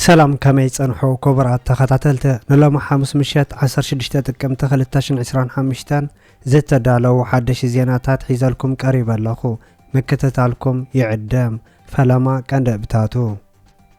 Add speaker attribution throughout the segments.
Speaker 1: ሰላም ከመይ ጸንሑ ክቡራት ተኸታተልቲ ንሎሚ ሓሙስ ምሸት 16 ጥቅምቲ 2025 ዝተዳለዉ ሓደሽ ዜናታት ሒዘልኩም ቀሪበ ኣለኹ ምክትታልኩም ይዕደም ፈለማ ቀንዲ እብታቱ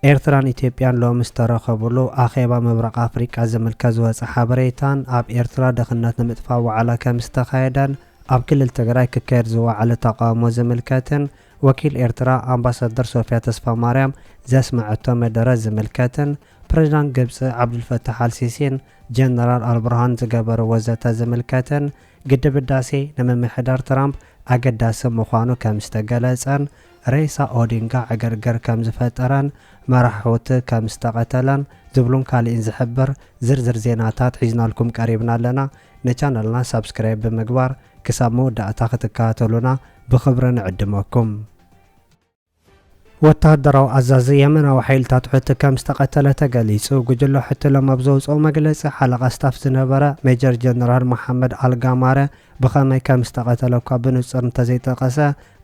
Speaker 1: ኤርትራን ኢትዮጵያን ሎሚ ዝተረኸብሉ ኣኼባ ምብራቕ ኣፍሪቃ ዝምልከት ዝወጸ ሓበሬታን ኣብ ኤርትራ ድኽነት ንምጥፋእ ዋዕላ ከምዝተኻየደን ኣብ ክልል ትግራይ ክካየድ ዝወዓለ ተቓውሞ ዝምልከትን ወኪል ኤርትራ ኣምባሳደር ሶፍያ ተስፋማርያም ዘስመዐቶ መደረ ዝምልከትን ፕሬዝዳንት ግብፂ ዓብዱልፈታሕ ኣልሲሲን ጀነራል ኣልብርሃን ዝገበርዎ ዘተ ዝምልከትን ግድብ ህዳሴ ንምምሕዳር ትራምፕ ኣገዳሲ ምዃኑ ከምዝተገለጸን ሬሳ ኦዲንጋ ዕግርግር ከምዝፈጠረን መራሕውቲ ከምዝተቐተለን ዝብሉን ካሊእን ዝሕብር ዝርዝር ዜናታት ሒዝናልኩም ቀሪብና ኣለና። ንቻነልና ሳብስክራይብ ብምግባር ክሳብ መወዳእታ ክትከታተሉና ብኽብሪ ንዕድመኩም። ወተሃደራዊ ኣዛዚ የመናዊ ሓይልታት ሑቲ ከምዝተቐተለ ተገሊጹ። ጉጅለ ሑቲ ሎም ኣብ ዘውጽኦ መግለጺ፣ ሓለቓ ስታፍ ዝነበረ ሜጀር ጀነራል መሓመድ ኣል ጋማረ ብኸመይ ከምዝተቐተለ እኳ ብንጹር እንተዘይጠቐሰ፣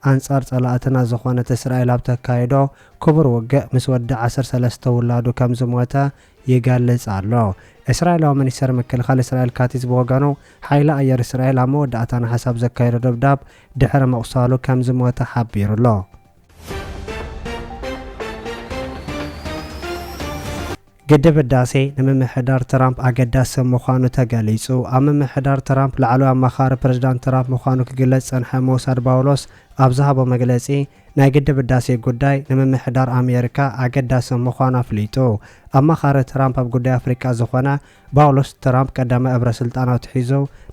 Speaker 1: ኣንጻር ጸላእትና ዝኾነት እስራኤል ኣብ ተካይዶ ክቡር ውግእ ምስ ወዲ ዓሰርተ ሰለስተ ውላዱ ከም ዝሞተ ይገልጽ ኣሎ። እስራኤላዊ ሚኒስተር ምክልኻል እስራኤል ካቲዝ ብወገኑ፣ ሓይሊ ኣየር እስራኤል ኣብ መወዳእታ ነሓሰ ኣብ ዘካየዶ ደብዳብ ድሕሪ ምቑሳሉ ከም ዝሞተ ሓቢሩ'ሎ። ግድብ ህዳሴ ንምምሕዳር ትራምፕ ኣገዳሲ ምዃኑ ተገሊጹ። ኣብ ምምሕዳር ትራምፕ ላዕለዋይ ኣማኻሪ ፕረዚዳንት ትራምፕ ምዃኑ ክግለጽ ዝጸንሐ ሞሳድ ባውሎስ ኣብ ዝሃቦ መግለጺ፣ ናይ ግድብ ህዳሴ ጉዳይ ንምምሕዳር ኣሜሪካ ኣገዳሲ ምዃኑ ኣፍሊጡ። ኣማኻሪ ትራምፕ ኣብ ጉዳይ ኣፍሪቃ ዝኾነ ባውሎስ፣ ትራምፕ ቀዳማይ እብረ ስልጣኑ ኣትሒዙ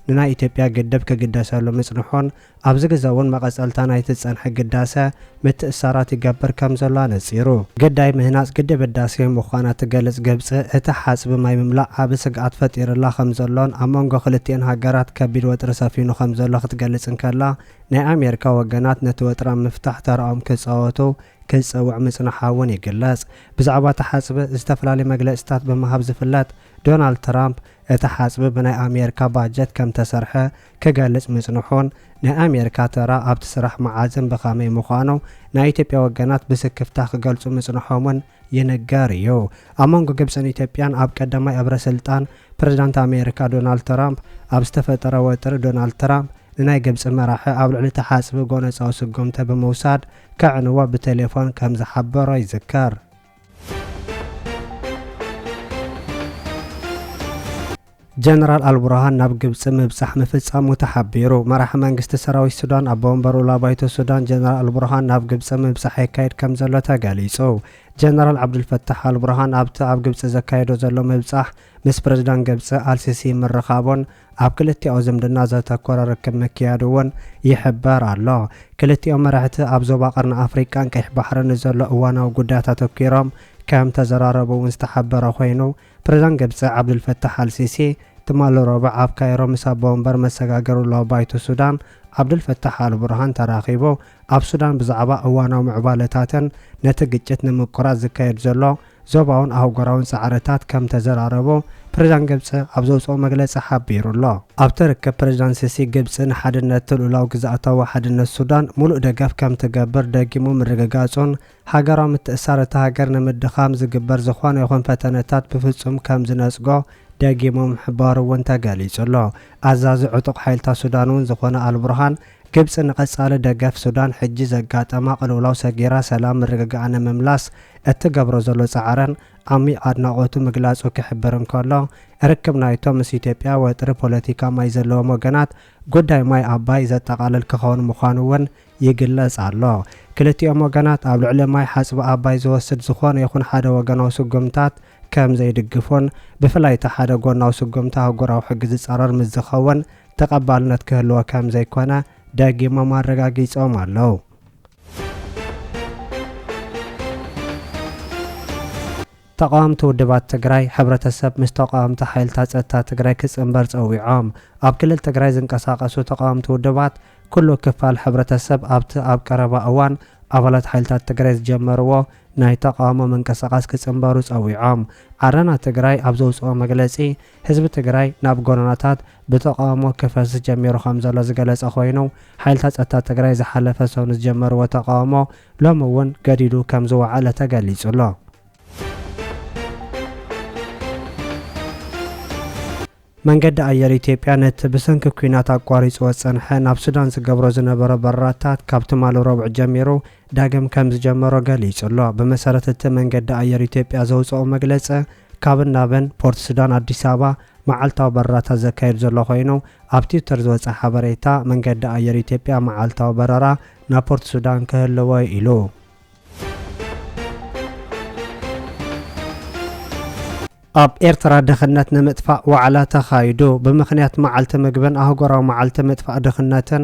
Speaker 1: ንናይ ኢትዮጵያ ግድብ ክግደሰሉ ምጽንሑን ኣብዚ ግዘ እውን መቐፀልታ ናይቲ ዝፀንሐ ግዳሰ ምትእስሳራት ይገብር ከምዘሎ ኣነፂሩ። ግዳይ ምህናፅ ግድብ ህዳሴ ምዃና እትገልፅ ግብፂ፣ እቲ ሓፅቢ ማይ ምምላእ ዓብዪ ስግኣት ፈጢሩላ ከምዘሎን ኣብ መንጎ ክልቲኤን ሃገራት ከቢድ ወጥሪ ሰፊኑ ከምዘሎ ክትገልፅ እንከላ፣ ናይ ኣሜሪካ ወገናት ነቲ ወጥሪ ኣብ ምፍታሕ ተርኦም ክፃወቱ ክትፅውዕ ምፅናሓ እውን ይግለፅ። ብዛዕባ እቲ ሓፅቢ ዝተፈላለዩ መግለፂታት ብምሃብ ዝፍለጥ ዶናልድ ትራምፕ፣ እቲ ሓፅቢ ብናይ ኣሜሪካ ባጀት ከምተሰርሐ፣ ክገልጽ ምጽንሑን፣ ናይ ኣሜሪካ ተራ ኣብቲ ስራሕ መዓዝን ብኸመይ ምዃኑ ናይ ኢትዮጵያ ወገናት ብስክፍታ ክገልጹ ምጽንሖምን ይንገር እዩ። ኣብ መንጎ ግብጽን ኢትዮጵያን ኣብ ቀዳማይ እብረ ስልጣን ፕረዚዳንት ኣሜሪካ ዶናልድ ትራምፕ ኣብ ዝተፈጠረ ወጥሪ ዶናልድ ትራምፕ ንናይ ግብጺ መራሒ ኣብ ልዕሊ እቲ ሓጽቢ ጎነጻዊ ስጉምቲ ብምውሳድ ከዕንዎ ብቴሌፎን ከምዝሓበሮ ይዝከር። ጀነራል ኣልቡርሃን ናብ ግብፂ ምብፃሕ ምፍፃሙ ተሓቢሩ። መራሒ መንግስቲ ሰራዊት ሱዳን ኣቦ ወንበር ውላ ባይቶ ሱዳን ጀነራል ኣልቡርሃን ናብ ግብፂ ምብፃሕ የካይድ ከም ዘሎ ተገሊፁ። ጀነራል ዓብዱልፈታሕ ኣልቡርሃን ኣብቲ ኣብ ግብፂ ዘካየዶ ዘሎ ምብፃሕ ምስ ፕረዚዳንት ግብጺ ኣልሲሲ ምርኻቡን ኣብ ክልቲኣዊ ዝምድና ዘተኮረ ርክብ ምክያዱ'ውን ይሕበር ኣሎ። ክልቲኦም መራሕቲ ኣብ ዞባ ቀርኒ ኣፍሪቃን ቀይሕ ባሕርን ንዘሎ እዋናዊ ጉዳያት ኣተኲሮም ከም ተዘራረቡ'ውን ዝተሓበረ ኮይኑ፣ ፕረዚዳንት ግብጺ ዓብዱልፈታሕ ኣልሲሲ ትማሊ ረቡዕ ኣብ ካይሮ ምስ ኣቦ ወንበር መሰጋገሪ ውልዋዊ ባይቶ ሱዳን ዓብዱልፈታሕ ኣልቡርሃን ተራኺቡ ኣብ ሱዳን ብዛዕባ እዋናዊ ምዕባለታትን ነቲ ግጭት ንምቁራጽ ዝካየድ ዘሎ ዞባውን ኣህጉራውን ጻዕርታት ከም ተዘራረቦ ፕሬዝዳንት ግብጺ ኣብ ዘውጽኦ መግለጺ ሓቢሩ ኣሎ። ኣብቲ ርክብ ፕሬዝዳንት ሲሲ ግብጺ ንሓድነትን ሉኡላዊ ግዝኣታዊ ሓድነት ሱዳን ሙሉእ ደገፍ ከም ትገብር ደጊሙ ምርግጋጹን ሃገራዊ ምትእስሳር እታ ሃገር ንምድኻም ዝግበር ዝኾነ ይኹን ፈተነታት ብፍጹም ከም ዝነጽጎ ደጊሙ ምሕባሩ'ውን ተገሊጹ ኣሎ። ኣዛዚ ዕጡቕ ሓይልታት ሱዳን'ውን ዝኾነ ኣልቡርሃን ግብጺ ንቐጻሊ ደገፍ ሱዳን ሕጂ ዘጋጠማ ቅልውላው ሰጊራ ሰላም ምርግጋኣ ንምምላስ እትገብሮ ዘሎ ጻዕርን ዓሚቕ ኣድናቖቱ ምግላጹ ክሕብር እንከሎ፣ ርክብ ናይቶም ምስ ኢትዮጵያ ወጥሪ ፖለቲካ ማይ ዘለዎም ወገናት ጉዳይ ማይ ኣባይ ዘጠቓልል ክኸውን ምዃኑ'ውን ይግለጽ ኣሎ። ክልቲኦም ወገናት ኣብ ልዕሊ ማይ ሓጽቢ ኣባይ ዝወስድ ዝኾነ ይኹን ሓደ ወገናዊ ስጉምታት ከምዘይድግፉን ብፍላይ እቲ ሓደ ጎናዊ ስጉምቲ ኣህጉራዊ ሕጊ ዝጻረር ምስ ዝኸውን ተቐባልነት ክህልዎ ከም ዘይኮነ ደጊሞም ኣረጋጊጾም ኣለዉ። ተቓወምቲ ውድባት ትግራይ፣ ሕብረተሰብ ምስ ተቓወምቲ ሓይልታት ጸጥታ ትግራይ ክጽንበር ጸዊዖም። ኣብ ክልል ትግራይ ዝንቀሳቐሱ ተቓወምቲ ውድባት፣ ኩሉ ክፋል ሕብረተሰብ ኣብቲ ኣብ ቀረባ እዋን ኣባላት ሓይልታት ትግራይ ዝጀመርዎ ናይ ተቓውሞ ምንቅስቓስ ክጽንበሩ ጸዊዖም። ዓረና ትግራይ ኣብ ዘውጽኦ መግለጺ፣ ህዝቢ ትግራይ ናብ ጎደናታት ብተቓውሞ ክፈስስ ጀሚሩ ከምዘሎ ዝገለፀ ኮይኑ፣ ሓይልታት ፀጥታ ትግራይ ዝሓለፈ ሰው ንዝጀመርዎ ተቓውሞ ሎሚ እውን ገዲዱ ከምዝወዓለ ተገሊፁ'ሎ። መንገዲ ኣየር ኢትዮጵያ ነቲ ብሰንኪ ኲናት ኣቋሪፅዎ ዝፀንሐ ናብ ሱዳን ዝገብሮ ዝነበሮ በረራታት ካብ ትማሊ ረቡዕ ጀሚሩ ዳግም ከም ዝጀመሮ ገሊጹ'ሎ። ብመሰረት እቲ መንገዲ ኣየር ኢትዮጵያ ዘውጸኦ መግለጺ፣ ካብን ናብን ፖርት ሱዳን ኣዲስ ኣበባ መዓልታዊ በረራታት ዘካይድ ዘሎ ኮይኑ፣ ኣብ ትዊተር ዝወጸ ሓበሬታ፣ መንገዲ ኣየር ኢትዮጵያ መዓልታዊ በረራ ናብ ፖርት ሱዳን ክህልዎ'ዩ ኢሉ። ኣብ ኤርትራ ድኽነት ንምጥፋእ ዋዕላ ተኻይዱ። ብምኽንያት መዓልቲ ምግብን ኣህጉራዊ መዓልቲ ምጥፋእ ድኽነትን፣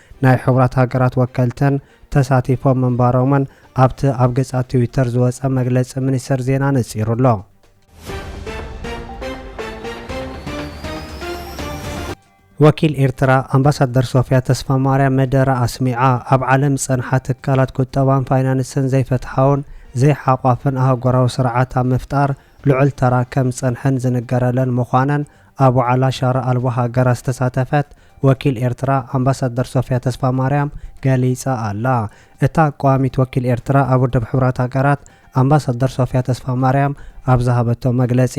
Speaker 1: ናይ ሕቡራት ሃገራት ወከልተን ተሳቲፎም ምንባሮምን ኣብቲ ኣብ ገጻት ትዊተር ዝወጸ መግለጺ ሚኒስተር ዜና ነጺሩ ኣሎ። ወኪል ኤርትራ ኣምባሳደር ሶፍያ ተስፋማርያም መደረ ኣስሚዓ። ኣብ ዓለም ዝጸንሓ ትካላት ቁጠባን ፋይናንስን ዘይፍትሓውን ዘይሓቋፍን ኣህጉራዊ ስርዓት ኣብ ምፍጣር ልዑል ተራ ከም ዝጸንሐን ዝንገረለን ምዃነን ኣብ ዋዕላ ሻራ ኣልቦ ሃገራት ዝተሳተፈት ወኪል ኤርትራ ኣምባሳደር ሶፍያ ተስፋማርያም ገሊጻ ኣላ። እታ ቀዋሚት ወኪል ኤርትራ ኣብ ውድብ ሕቡራት ሃገራት ኣምባሳደር ሶፍያ ተስፋማርያም ኣብ ዝሃበቶ መግለጺ፣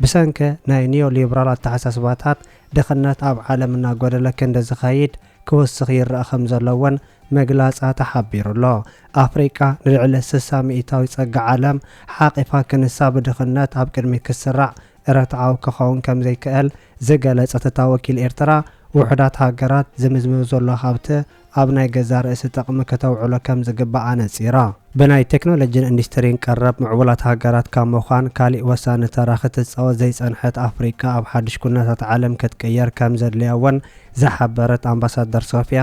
Speaker 1: ብሰንኪ ናይ ኒዮ-ሊብራል ኣተሓሳስባታት ድኽነት ኣብ ዓለም እናጎደለ ክንዲ ዝኸይድ ክውስኽ ይረኣ ከምዘሎ እውን ምግላጻ ተሓቢሩ'ሎ። ኣፍሪቃ ንልዕሊ ስሳ ሚኢታዊት ጸጋ ዓለም ሓቚፋ ክንሳ ብድኽነት ኣብ ቅድሚት ክትስራዕ ርትዓዊ ክኸውን ከም ዘይክእል ዝገለጸት እታ ወኪል ኤርትራ፣ ውሑዳት ሃገራት ዝምዝምብ ዘሎ ሃብቲ ኣብ ናይ ገዛእ ርእሲ ጥቕሚ ክተውዕሎ ከም ዝግባእ ኣነጺራ። ብናይ ቴክኖሎጂን ኢንዱስትሪን ቀረብ ምዕቡላት ሃገራት ካብ ምዃን ካሊእ ወሳኒ ተራ ክትጻወት ዘይጸንሐት ኣፍሪቃ ኣብ ሓድሽ ኩነታት ዓለም ክትቅየር ከም ዘድልያ እውን ዝሓበረት ኣምባሳደር ሶፍያ፣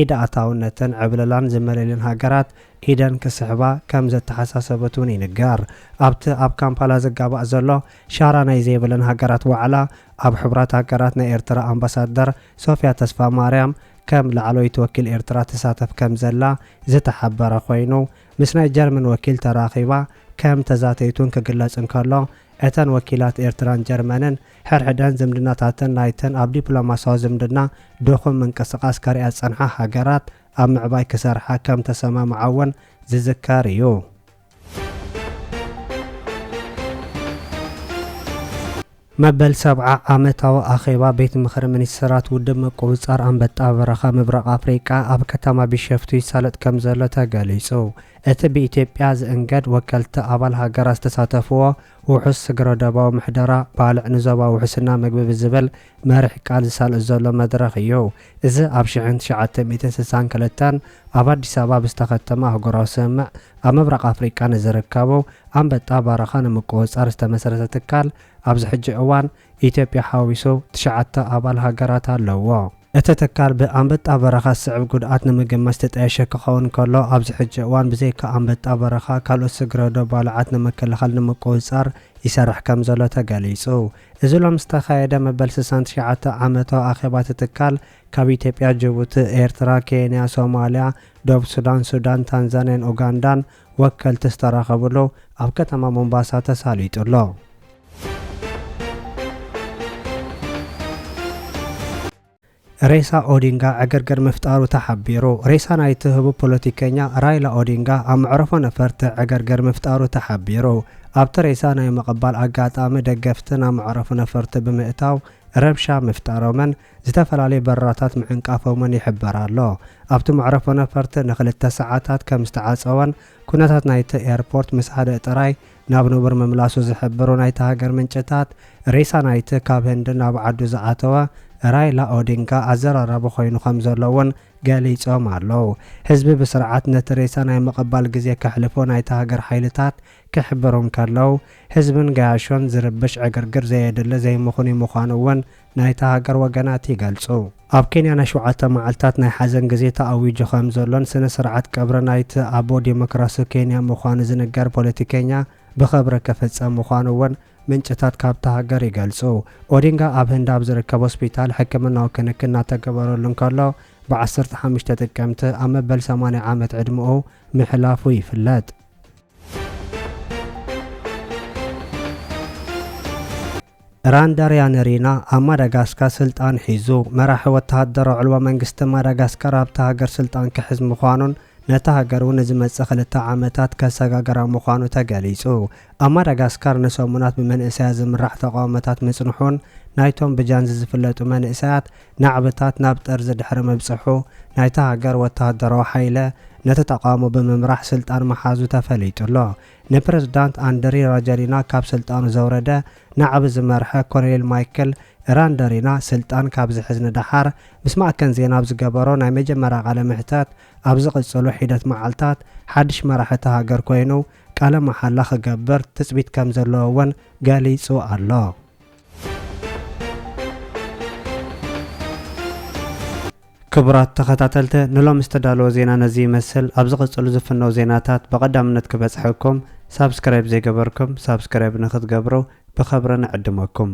Speaker 1: ኢድ ኣእታውነትን ዕብለላን ዝመልእልን ሃገራት ኢደን ክስሕባ ከም ዘተሓሳሰበት እውን ይንገር። ኣብቲ ኣብ ካምፓላ ዝጋባእ ዘሎ ሻራ ናይ ዘይብለን ሃገራት ዋዕላ ኣብ ሕቡራት ሃገራት ናይ ኤርትራ ኣምባሳደር ሶፍያ ተስፋማርያም ከም ላዕለወይቲ ወኪል ኤርትራ ትሳተፍ ከም ዘላ ዝተሓበረ ኮይኑ ምስ ናይ ጀርመን ወኪል ተራኺባ ከም ተዛተየት እውን ክግለጽ እንከሎ እተን ወኪላት ኤርትራን ጀርመንን ሕድሕደን ዝምድናታተን ናይተን ኣብ ዲፕሎማስያዊ ዝምድና ድኹም ምንቅስቓስ ከርእያ ዝጸንሓ ሃገራት ኣብ ምዕባይ ክሰርሓ ከም ተሰማምዓ'ውን ዝዝከር እዩ። መበል ሰብዓ ዓመታዊ ኣኼባ ቤት ምኽሪ ሚኒስትራት ውድብ ምቁጽጻር ኣንበጣ በረኻ ምብራቕ ኣፍሪቃ ኣብ ከተማ ቢሸፍቱ ይሳለጥ ከም ዘሎ ተገሊጹ። እቲ ብኢትዮጵያ ዝእንገድ ወከልቲ ኣባል ሃገራት ዝተሳተፍዎ ውሑስ ስግረዶባዊ ምሕደራ፣ ባልዕ ንዞባ ውሕስና ምግቢ ብዝብል መሪሕ ቃል ዝሳለጥ ዘሎ መድረኽ እዩ። እዚ ኣብ ሽሕን ትሽዓተ ሚእትን ስሳን ክልተን ኣብ ኣዲስ ኣበባ ብዝተኸተመ ኣህጉራዊ ስምምዕ ኣብ ምብራቕ ኣፍሪቃ ንዝርከቡ ኣንበጣ በረኻ ንምቁውፃር ዝተመስረተ ትካል ኣብዚ ሕጂ እዋን ኢትዮጵያ ሓዊሱ ትሽዓተ ኣባል ሃገራት ኣለዉዎ። እቲ ትካል ብኣንበጣ በረኻ ዝስዕብ ጉድኣት ንምግማት ዝተጣየሸ ክኸውን ከሎ፣ ኣብዚ ሕጂ እዋን ብዘይካ ኣንበጣ በረኻ ካልኦት ስግረዶብ ባልዓት ንምክልኻል ንምቁፅፃር ይሰርሕ ከምዘሎ ተገሊፁ። እዚ ሎሚ ዝተኻየደ መበል ስሳን ትሽዓተ ዓመታዊ ኣኼባ እቲ ትካል ካብ ኢትዮጵያ፣ ጅቡቲ፣ ኤርትራ፣ ኬንያ፣ ሶማሊያ፣ ደቡብ ሱዳን፣ ሱዳን፣ ታንዛኒያን ኡጋንዳን ወከልቲ ዝተረኸብሉ ኣብ ከተማ ሞምባሳ ተሳሊጡ ኣሎ። ሬሳ ኦዲንጋ ዕግርግር ምፍጣሩ ተሓቢሩ። ሬሳ ናይቲ ህቡብ ፖለቲከኛ ራይላ ኦዲንጋ ኣብ መዕረፎ ነፈርቲ ዕግርግር ምፍጣሩ ተሓቢሩ። ኣብቲ ሬሳ ናይ ምቕባል ኣጋጣሚ ደገፍቲ ናብ መዕረፎ ነፈርቲ ብምእታው ረብሻ ምፍጣሮምን ዝተፈላለዩ በረራታት ምዕንቃፎምን ይሕበር ኣሎ። ኣብቲ መዕረፎ ነፈርቲ ንክልተ ሰዓታት ከም ዝተዓጸወን ኩነታት ናይቲ ኤርፖርት ምስ ሃደእ ጥራይ ናብ ንቡር ምምላሱ ዝሕብሩ ናይታ ሃገር ምንጭታት፣ ሬሳ ናይቲ ካብ ህንዲ ናብ ዓዱ ዝኣተወ ራይላ ኦዲንጋ ኣዘራራቢ ኮይኑ ከም ዘሎ'ውን ገሊጾም ኣለው። ህዝቢ ብስርዓት ነቲ ሬሳ ናይ ምቕባል ግዜ ከሕልፎ ናይታ ሃገር ሓይልታት ክሕብሩ እንከለው፣ ህዝብን ገያሾን ዝርብሽ ዕግርግር ዘየድሊ ዘይምኽኑይ ምዃኑ'ውን ናይታ ሃገር ወገናት ይገልጹ። ኣብ ኬንያ ናይ ሸውዓተ መዓልታት ናይ ሓዘን ግዜ ተኣዊጁ ከም ዘሎን ስነ ስርዓት ቀብሪ ናይቲ ኣቦ ዴሞክራሲ ኬንያ ምዃኑ ዝንገር ፖለቲከኛ ብኸብሪ ክፍጸም ምዃኑ እውን ምንጭታት ካብታ ሃገር ይገልጹ። ኦዲንጋ ኣብ ህንዲ ኣብ ዝርከብ ሆስፒታል ሕክምናዊ ክንክን እናተገበረሉ እንከሎ ብ ዓሰርተ ሓሙሽተ ጥቅምቲ ኣብ መበል ሰማንያ ዓመት ዕድመኡ ምሕላፉ ይፍለጥ። ራንዳርያነሪና ኣብ ማዳጋስካ ስልጣን ሒዙ፣ መራሒ ወተሃደራዊ ዕልዋ መንግስቲ ማዳጋስካር ኣብታ ሃገር ስልጣን ክሕዝ ምዃኑን ነታ ሃገር እውን ንዝመጽእ ክልተ ዓመታት ከሰጋግራ ምዃኑ ተገሊጹ። ኣብ ማዳጋስካር ንሰሙናት ብመንእሰያት ዝምራሕ ተቓውሞታት ምጽንሑን ናይቶም ብጃንዚ ዝፍለጡ መንእሰያት ናዕብታት ናብ ጠርዚ ድሕሪ ምብጽሑ ናይታ ሃገር ወተሃደራዊ ሓይለ ነቲ ተቓውሞ ብምምራሕ ስልጣን ምሓዙ ተፈሊጡ ኣሎ። ንፕረዚዳንት ኣንደሪ ራጃሊና ካብ ስልጣኑ ዘውረደ ናዕቢ ዝመርሐ ኮሎኔል ማይክል ራንደሪና ስልጣን ካብ ዝሕዝ ንደሓር ምስ ማእከን ዜና ኣብ ዝገበሮ ናይ መጀመርያ ቃለ መሕተት ኣብ ዝቕጽሉ ሒደት መዓልታት ሓድሽ መራሒ እታ ሃገር ኮይኑ ቃለ መሓላ ክገብር ትጽቢት ከም ዘለዎ እውን ገሊጹ ኣሎ። ክቡራት ተኸታተልተ ንሎሚ ዝተዳለወ ዜና ነዚ ይመስል ኣብ ዝቕጽሉ ዝፍነው ዜናታት ብቐዳምነት ክበጽሐኩም ሳብስክራይብ ዘይገበርኩም ሳብስክራይብ ንኽትገብሩ ብኸብሪ ንዕድመኩም።